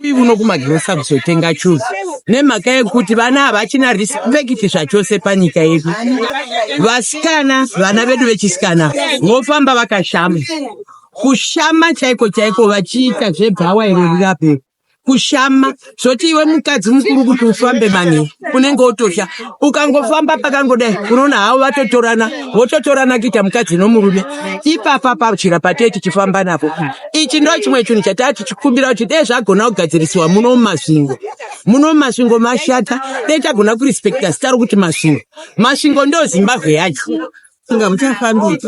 Uyi uno kumagirosa kuzotenga chuzi nemhaka yekuti vana havachina respect zvachose panyika yedu. Vasikana, vana vedu vechisikana vofamba vakashama, kushama chaiko chaiko, vachiita zvebhawa iro rirape kushama zvoti iwe mukadzi mukuru kuti ufambe mani unenge wotosha ukangofamba pakangodai unoona havo vatotorana vototorana kuita mukadzi nomurume ipapa pachira patee tichifamba napo ichi ndo chimwe chinhu chataa tichikumbira kuti dee zvagona kugadzirisiwa muno mumasvingo muno mumasvingo mashata dee tagona kurespekta zita rokuti masvingo masvingo ndo zimbabwe yacho inga muchafambiri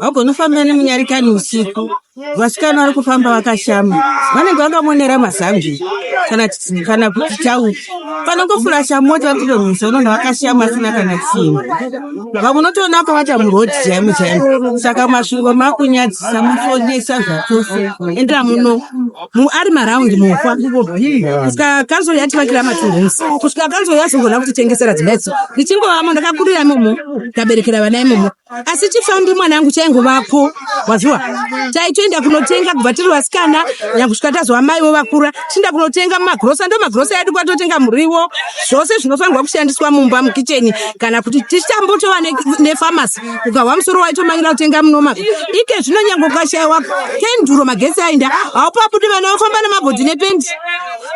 vagonofamba nemunyarikani usiku vasikana vari kufamba vakashama vanenge vakamonera mazambi kana kuti tauti panongofurasha mota vapinda mumusha unonda vakashiya masina kana chimwe vamwe unotoona vakavata murodi chaimo chaimo saka masvingo makunyadzisa mufonyesa zvatose endera muno ari maraundi mufa kusvika kanzoro yativakira matinhosi kusvika kanzoro yazongona kutitengesera dzimbatso ndichingovamo ndakakurira imomo ndaberekera vana imomo asi chifambi mwanangu chaingovapo waziwa taitoenda kunotenga kubva tiri vasikana nyakusvika tazova maivo vakura tiinda kunotenga mumagrosa ndo magrosa edu kwatotenga muriwo zvose zvinofanirwa kushandiswa mumba mukicheni kana kuti tichitambotova nefamasi ukahwa musoro waitomanyira kutenga munomaka ike zvino nyange ukashaiwa kenduro magetsi ainda haupabudi vana vofamba nemabhodhi nependi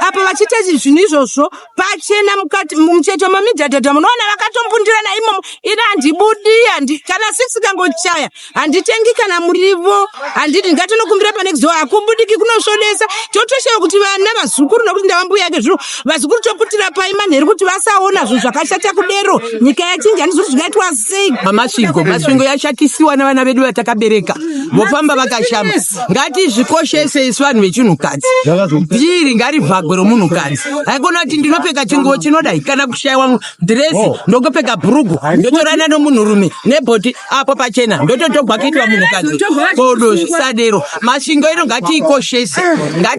apa vachita zvinhu izvozvo pachena mukati mumucheto mamidhadhadha munoona vakatombundirana imomo ini handibudi handi kana six ikangochaya handitengi kana murivo handidi ndingatonokumbira pane kuzoa hakubudiki kunosvodesa totoshava kuti vana vazukuru nokuti ndavambuya yake zvino vazukuru toputira pai manheri kuti vasaona zvinhu zvakashata kudero nyika yachinja handizi kuti zvingaitwa sei mamasvingo masvingo yashatisiwa navana vedu vatakabereka vofamba vakashama ngatizvikoshese isu vanhu vechinhukadzi dhiri ngarivhagwe romunhukadzi haikona kuti ndinopfeka chinguvo chinodai kana kushaiwa dhiresi oh. ndokupfeka bhurugu ndotorana nomunhurume nebhoti apo pachena ndototogwa kuitwa munhukadzi kodo zvisadero masvingo ino ngatiikoshese ngati